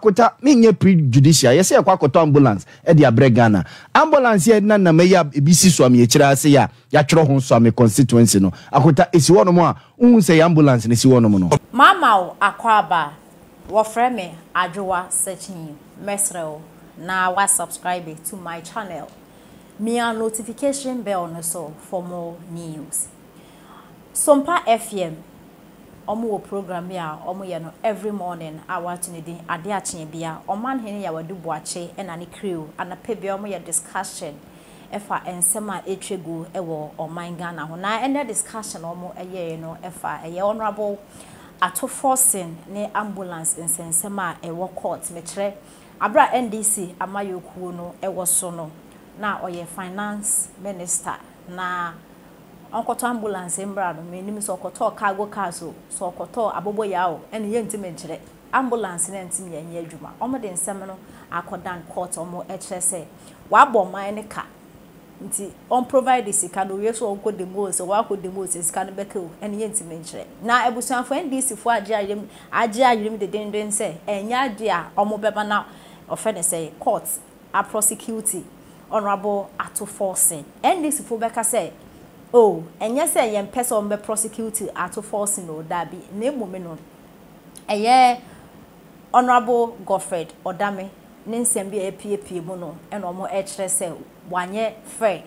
Kota me nyɛ pre judicial yɛ sɛ yɛkɔ akɔtɔ ambulance ɛde abrɛ Ghana ambulance yɛ na nam ɛyɛ a ebi si suame akyire ase yɛ a yatwerɛ ho suame constituency no akota esi hɔ nom a wohu sɛ yɛ ambulance na esi hɔ nom no. Mama wo akwaaba a wɔfrɛ me Adwowa Sekyin mɛsrɛ wo na wa subscribe to my channel mia notification bell no so for more news Sompa FM. Ɔmo wɔ program bi a ɔmo yɛ no every morning a w'ato ne din Ade a Kyeɛ Bia. Ɔmanhene Yawadu Boakye ɛna ne crew anapa biara ɔmo yɛ discussion ɛfa ɛnsɛm a ɛtwa gu ɛwɔ ɔman Ghana ho. Na ɛnɛ discussion a ɔmo ɛyɛɛ no ɛfa ɛyɛ Honourable Ato Forson ne Ambulance nsɛnsɛm a ɛwɔ court. Mekyerɛ, aberɛ a NDC amayɔkuo no ɛwɔ so no na ɔyɛ Finance Minister na. Ɔnkɔtɔ ambulance mbra no mennim sɛ ɔkɔtɔɔ cargo cars o sɛ ɔkɔtɔɔ aboboyaa o ɛne yɛntim nkyerɛ ambulance no ɛntim yɛnyɛ adwuma ɔmo de nsɛm no akɔdan court ɔmo ɛkyerɛ sɛ wabɔ ɔman no ka nti ɔmprovide sika no owie so ɔnkɔ dɛm o sɛ wakɔ dɛm o sɛ sika no bɛka o ɛne yɛntim nkyerɛ na abusuafoɔ NDC foɔ agye ayerem agye ayerem dedenden sɛ ɛnyɛ adeɛ a ɔmo bɛma na ɔfrɛ ne sɛn court a prosecuti Honourable Ato Forson. NDC fo bɛka sɛ oh ɛnyɛ sɛ yɛn pɛ sɛ wɔn bɛ prosecuti Ato Forson oo daabi na mmom no ɛyɛ Honourable Godfred Odame ne nsɛm bi a apiepie mu no na wɔn ɛkyerɛ sɛ wanyɛ fair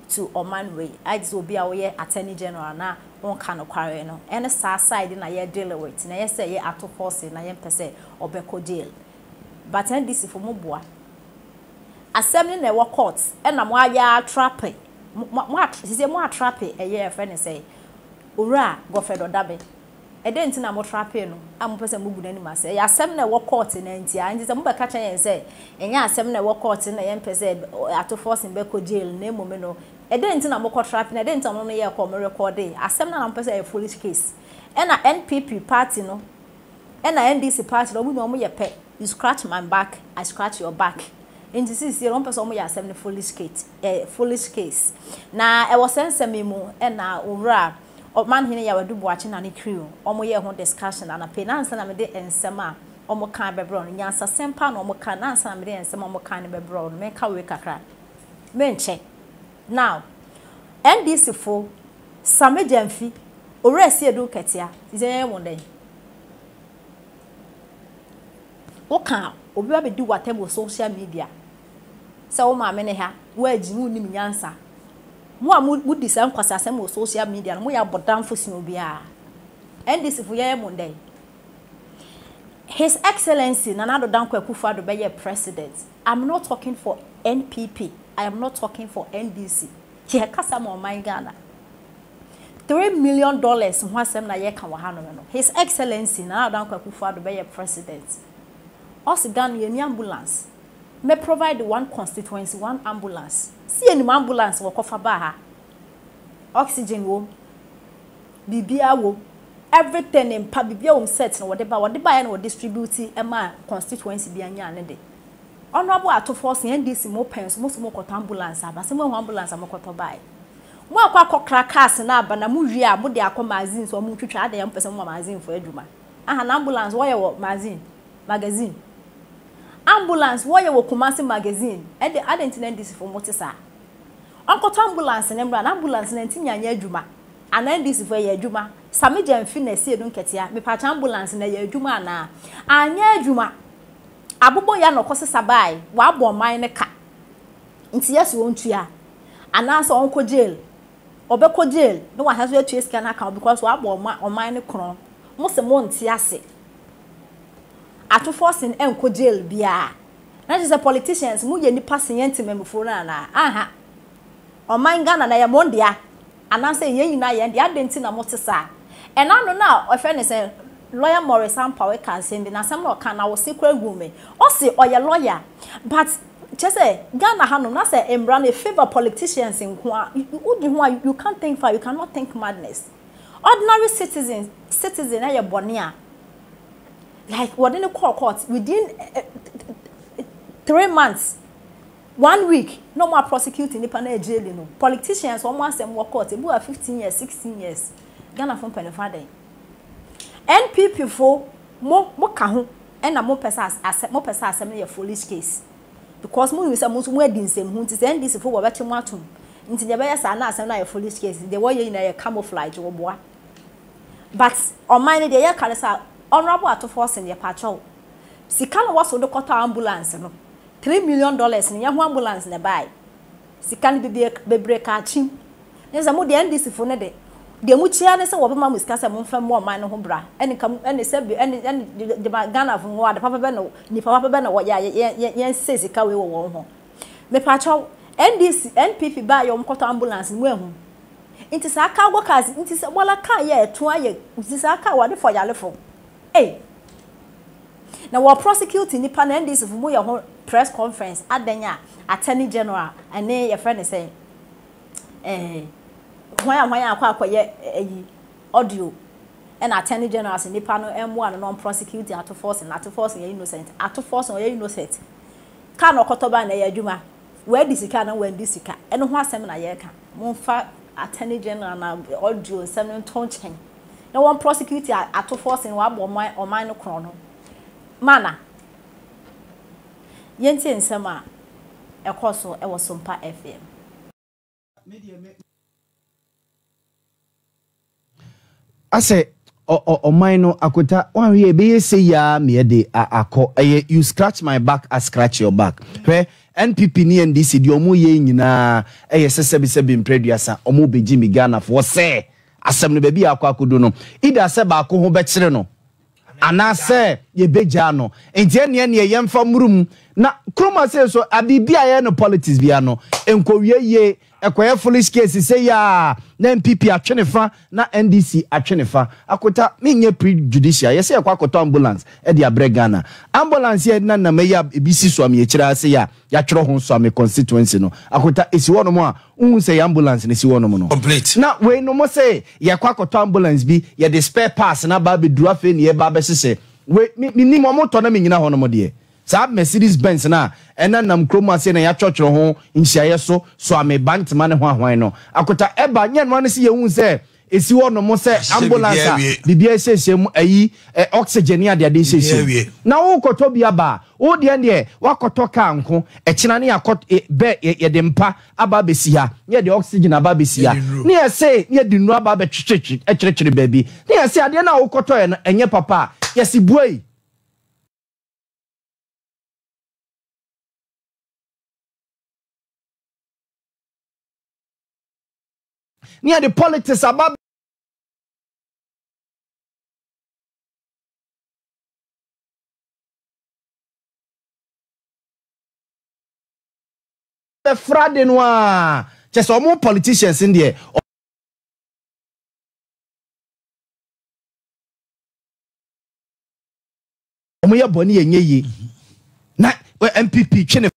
to ɔman wei ayɛ te sɛ obi a woyɛ Attorney General na wo nka nokware no ɛne saa side na yɛ deal with na ɛyɛ sɛ ɛyɛ Ato Forson na yɛn pɛ sɛ ɔbɛkɔ jail But NDC fo mo boa. Asɛm ne na ɛwɔ court ɛna mo ayɛ ara trape mo mo sisei mo atrape ɛyɛ yɛfrɛ no sɛn owura Godfred Ɔdabe ɛdɛn nti na mo trapee no a mo pɛ sɛ mo gu n'anim ase ɛyɛ asɛm na ɛwɔ court na nti a nti sɛ mo bɛka kyerɛ yɛn sɛ ɛnyɛ asɛm na ɛwɔ court no na yɛn pɛ sɛ ato forcing bɛkɔ jail na mmom no ɛdɛn nti na mo kɔ trape na ɛdɛn nti na mo no yɛ kɔ mo rekɔde asɛm na na mo pɛ sɛ ɛyɛ foolish case ɛna NPP party no Ɛna NDC party no ɔmo nyinaa ɔmo yɛ pɛ, you scratch my back, I scratch your back, nti seesei no ɔmo pɛsɛ ɔmo yɛ asɛm no foolish cate, eh, foolish case. Na ɛwɔ saa nsɛm yi mu ɛna Owura Ɔmanhene Yawadu Boakye Nane Crew ɔmo yɛɛ ho discussion anapa yi, na ansa na mede nsɛm a ɔmo kae bɛbrɛ wo no, nyansasɛm paa na ɔmo kae, na ansa na mede nsɛm a ɔmo kae no bɛbrɛ wo no, menka wei kakra, menkyɛ. Now, NDC fo, Sameh Gyamfi, Owura Siedu Ketia, Cynthia yɛyɛ mo dɛn? Wo ka a, obi ba bedi wo atɛm wɔ social media sɛ wo maame ne ha, wo agyi, wo nnim nyansa. Mo a mo di saa nkwasiasɛm wɔ social media no, mo yɛ abɔdamfo sen obiara. NDC fo yɛyɛ mo dɛn? His Excellency Nana Addo Dankwa Akufo Addo bɛyɛɛ President. I'm not talking for NPP, I am not talking for NDC, yɛ kasa ma ɔman Ghana. Three million dollars ho asɛm na yɛ ka wɔ ha nom no, His Excellency Nana Addo Dankwa Akufo Addo bɛyɛ President, ɔse Ghana yɛ ni ambulance, mɛ provide one constituency one ambulance, se yɛ nim ambulance wɔ kɔfa ba ha, oxygen wɔ mu, Biribiara wom. Everything ne mpa biribiara wom set no wɔde ba wɔde baeɛ na wɔ distribute maa constituency biara nyaa ne de. Honourable Atofoɔ se NDC mo pɛn so mo se mokɔtɔ ambulance aba se moahu ambulance a mokɔtɔ baeɛ. Moakɔ akɔkra cars no aba na mo wie a mode akɔ magazine so ɔmo twitwa adɛn a mopɛ sɛ moma magazine foɔ adwuma ahan ambulance wɔyɛ wɔ magazine magazine ambulance wɔyɛ wɔ Kumasi magazine ɛde adɛn nti na NDC foɔ mote saa. Ɔnkɔtɔ ambulance no mmra na ambulance no antumi anyɛ adwuma Anaa NDC foɔ ɛyɛ adwuma. Same gya nfi na ɛsi edu nketea mepakyɛ ambulance no ɛyɛ adwuma anaa? Anyɛ adwuma. Abobɔ ya na ɔkɔ sesa baae wabɔ ɔman no ka nti yɛse ɔntua anaa sɛ ɔnkɔ jail ɔbɛkɔ jail na wasan so atua sika no aka ho because wabɔ ɔman no korɔn mose monte ase ato forcing ɛnkɔ jail biaa na kyerɛ sɛ politicians moyɛ nipa sen yɛn temammufoɔ no anaa? Anha ɔman Ghana no ɛyɛ mo dea Anaasɛ yɛn nyinaa yɛn deɛ, adɛn nti na mote saa? Ɛna ano no a wɔfrɛ no sɛn? Lawyer Maurice Ampawe kaa asɛm bi, na asɛm no a ɔkaa no, awose koraa guu me. Ɔse ɔyɛ lawyer, but kyerɛ sɛ Ghana hanom na sɛ mmara no favour politicians nko ara, wodi ho a you can't think far, you cannot think madness. Ordinary citizen citizen ayɛ bɔne a, like wɔde no kɔɔ court within three months. One week na ɔmo a prosecute nipa no ɛjaili no politicians ɔmo asɛm wɔ court ebi wɔ a fifteen years sixteen years Ghana fo mpanyinfo adɛn NPP fo mo mo ka ho ɛna mo pɛ sɛ asɛm mo pɛ sɛ asɛm no yɛ foolish case because mo nim sɛ mo nso mo adi nsɛm ho nti sɛ NDC fo wɔ bɛtwe mo atom nti deɛ ɛbɛyɛ saa na asɛm no ayɛ foolish case deɛ wɔyɛ nyinaa yɛ camouflage wɔ boa but ɔman no deɛ yɛ ka no sɛ honourable Atufo ɔsen yɛ pakyɛw sika na wɔso de kɔtɔ ambulance no. Three million dollars no yɛ ho ambulance na ɛbaeɛ. Sika no bebie bebree kaa kyim. Ɛne sɛ mo deɛ NDC foɔ no de, deɛ mo kyi ara ne sɛ wɔbɛma mo sika sɛ monfa mmɔ ɔman no ho bra. Ɛne ka mo, ɛne sɛ bi, ɛne, ɛne gye, gye, gyama Ghana foɔ hɔ ade papa bɛn na, nnipa papa bɛn na wɔyɛ a yɛ, yɛn, yɛn, yɛn se sika wei wɔ wɔn ho. Mepakyɛw, NDC, NPP baeɛ a wɔkɔtɔ ambulance no mo anhu? Nti saa cargo cars, nti sɛ Bola car yɛ ɛto ayɛ, nti saa car wɔde fɔ yarefoɔ. Ei! Na wɔ prosecute nipa no NDC fo mo yɛ ho press conference adɛn a Attorney General ɛne yɛfrɛ no sɛn eh hwan a hwan a akɔ akɔ yɛ ayi audio ɛna Attorney General se nipa no ɛmmoa no na ɔn prosecute Ato Forson Ato Forson yɛ innocent Ato Forson ɔyɛ innocent car na ɔkɔtɔ baa na ɛyɛ adwuma wadi sika anaa wandi sika ɛno ho asɛm na yɛka monfa Attorney General na audio nsɛm no nto nkyɛn. na wɔn prosecute atofoɔ sene wɔabɔ ɔman ɔman no korɔn no mana yɛntie nsɛm a ɛkɔɔ so wɔ Sompa FM. Asɛ ɔ ɔ ɔman no akota wanhwɛ ɛbɛyɛ sei aa meɛ de a akɔ ɛyɛ you scratch my back I scratch your back hwɛ NPP ne NDC deɛ ɔmo yɛ nyinaa ɛyɛ sɛ sɛbi sɛbi mprɛduasa ɔmo bɛgye me Ghanafoɔ sɛ Asɛm no baabi a akɔ akodu no, either sɛ baako ho bɛkyere no anaasɛ yɛbɛgyaa no. Nti ɛnneɛ ɛnneɛ yɛmfa mmoro mu na kurom ha sei nso biribi a yɛyɛ no politics biara no nkɔwie yie. Ɛkɔyɛ foolish case sei a na NPP atwe ne fa na NDC atwe ne fa. Akota menyɛ prejudicial. Yɛsɛ yɛkɔ akɔtɔ ambulance de abrɛ Ghana. Ambulance yi a yɛde nenam yi a ɛbi si so a meyɛ akyire ha sei a, Yatwerɛ ho so a me constituency no akota esi hɔ nom a wohu sɛ yɛ ambulance na esi hɔ nom no. Na wei nom se yɛkɔ akɔtɔ ambulance bi yɛde spare parts no aba abeduru afei na yɛba abɛhyehyɛ wei me menim wɔn tɔ na me nyina hɔ nom deɛ saa Mercedes Benz no a ɛna nam kuro mu aseɛ na yatwɔtwerɛ ho nhyiaeɛ so soa me bantema ne hwanhwan no akota ɛba nyɛ noa ne se yɛhu sɛ Esi hɔ nom sɛ ambulance a biribiara esiesie mu, ayi ɛ, oxygen ne ade ade esiesie mu. Na wokɔtɔ bi aba a, wo deɛ deɛ wakɔtɔ car nko, ɛkyena ne yɛakɔ ɛ, bɛ, yɛ, yɛde mpa aba abɛsi ha, ne yɛde oxygen aba abɛsi ha, ne yɛse ne yɛde nnuro aba abɛtwetwetwe ɛkyerɛkyere baabi, ne yɛse adeɛ no a wokɔtɔɛ no ɛnyɛ papa a, yɛse buai. Ne yɛde politics aba. bɛfra de no a kyɛ sɛ ɔmo politicians n deɛ ɔmo yɛ bɔne yɛ nyɛ yie na npp twe ne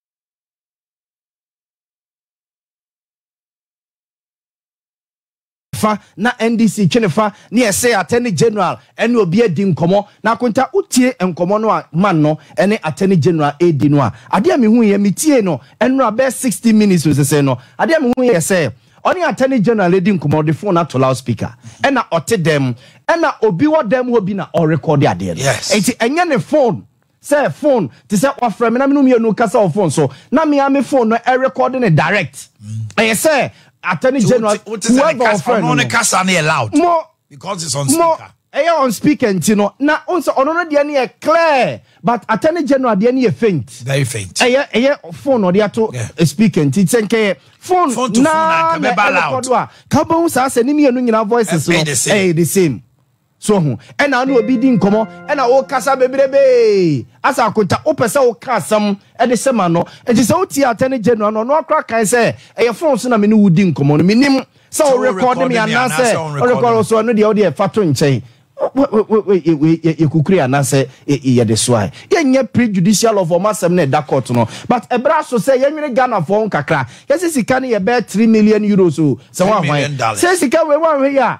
fa na NDC twe ne fa ne ɛsɛ attorney general ɛne obi adi nkɔmɔ na akonta wotie nkɔmɔ no a man no ɛne attorney general ɛredi no a adeɛ a mehu yɛ metiee no ɛnora bɛɛ 60 minutes nsesɛɛ no adeɛ a mehu yɛ sɛ ɔne attorney general ɛdi nkɔmɔ ɔde phone ato loud speaker ɛna ɔte dɛm ɛna obi wɔ dɛm hɔ bi na ɔrekɔde adeɛ no ɛnti ɛnyɛ ne phone Sɛ fon te sɛ wafrɛ me na me no mmienu rekasa wɔ fon so na me ara me fon no ɛrekɔde ne direct ɛyɛ sɛ attorney general whoever ɔfrɛ no no mo mo ɛyɛ on speaker nti no na o sɛ ɔno no deɛ no yɛ clear but attorney general deɛ no yɛ faint ɛyɛ ɛyɛ fon na ɔde ato speaker nti sɛ nkɛyɛ fon na na ɛrekɔdo a ka bɛhu saa sɛ ne mmienu nyinaa voices no ɛyɛ the same. So ohu? Ɛna wo ne obi di nkɔmmɔ, ɛna wokasa bebrebee, asa akonta, wopɛ sɛ woka asɛm de hyɛ ma no. Enti sɛ wotiee Attorney General no, ɔno ara koraa kae sɛ, Ɛyɛ phone so na me ne wo di nkɔmmɔ no, mennim sɛ worekɔɔde me anaasɛ ɔnrekɔɔde wo. So ɛno deɛ, wo deɛ fa to nkyɛn. Wei yɛ kukuri anaasɛ yɛde soa? Yɛnyɛ prejudicial of wɔn asɛm no a ɛda court no, but ɛberɛ aso sɛ yɛnwene Ghanafoɔ ho kakra. Yɛse sika no yɛ bɛyɛ three million euros o, sɛ wɔn ahwan. Sɛ sika wei wɔanhwɛ yie a,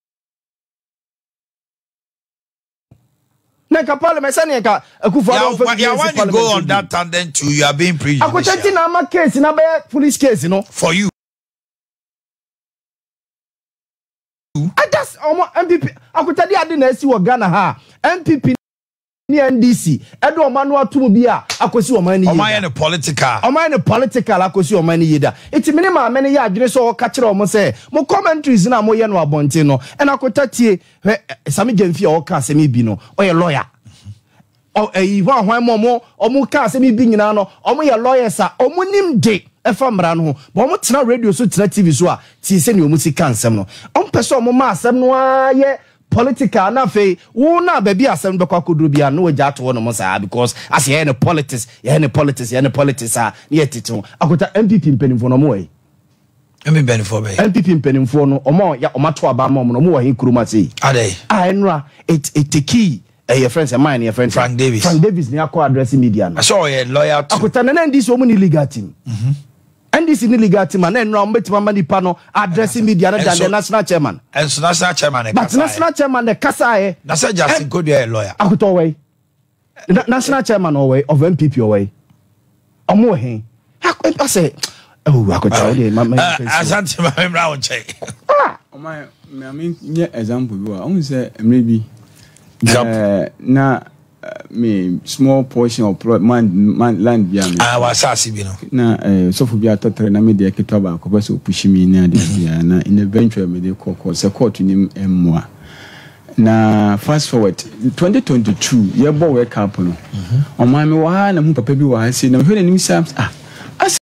na nka parliament sɛdeɛ nka akufo adɔ ɔfɛ bi yɛn si parliament go on that tandem too you are being prejudicial akɔkyɛ ti na ama case na bɛyɛ police case no for you adas ɔmo npp akɔkyɛ di adi na esi wɔ ghana ha npp. ne NDC de ɔman no ato mu bi a akɔsi ɔman no yie da. Ɔmayɛ no political. Ɔmayɛ no political akɔsi ɔman no yie da. Nti me ne maame no yɛ adwene sɛ ɔka kyerɛ wɔn sɛ mo commentaries no a moyɛ no abɔnten no ɛna kota tie hwɛ Sami Gyamfi a ɔka asɛm yi bi no ɔyɛ lawyer ɛyi ho ahwan mu ɔmo ɔmo ka asɛm bi nyinaa no ɔmo yɛ lawyers a ɔmo nim de ɛfa mmara no ho bɔn ɔmo tena radio so tena tv so a tie sɛ nea ɔmo si ka nsɛm no ɔmo pɛ sɛ ɔmo ma asɛm no ara yɛ Political na afei wo na baabi a asɛm no bɛkɔ akɔduru biara no na wagya ato hɔnom saa because asɛ yɛyɛ no politics yɛyɛ no politics yɛyɛ no politics a na yɛtete ho akɔta NPP mpanimfoɔ no wɔwɔ he? MP mpanimfoɔ bɛn? NPP mpanimfoɔ no wɔn a yɛ wɔn ato aba ama wɔn no wɔwɔ he kurom ha sei? Adɛn? A ɛnora it it tekii ɛɛ eh, yɛfrɛ no sɛ man no yɛfrɛ no sɛ Frank Davis Frank Davis ne akɔ address media no. Ɛsɛ ɔyɛ loyal to. Akɔta na na NDC wɔn ni legal team. Mm -hmm. NDC ne legal team a na ɛnora wɔn bɛtumi ama nipa no adrɛse media no dan deɛ national chairman. Ɛnso national chairman ne kasaeɛ. But national chairman ne kasaeɛ. Na sɛ Justin eh, Kodua yɛ lawyer. Akutɔ wɔ yi. National chairman wɔ yi of NPP wɔ yi. Ɔmo wɔ hen. Asɛ ɛwɔ akutɔ wɔ deɛ ma ma yɛ fɛsi. Asante ma mi mura wɔn kyɛn. Ɔmo ayɛ maame nyɛ example bi wa ɔmo sɛ mmerɛ bi. Example. Eh, na. me small portion of plot man man land bi a me ah wasaase bi no na eh, sɔfo bi atɔ tɛrɛ na me deɛ ketewa baako pɛ sɛ ɔpushi mi ne adeɛ bi a na in eventual me de kɔ kɔ sɛ kɔɔto nim mmoa na fast forward 2022 yɛbɔ wake up no ɔmaa me wɔ ha na mu papa bi wɔ ha sei na mehwɛ n'anim saa ah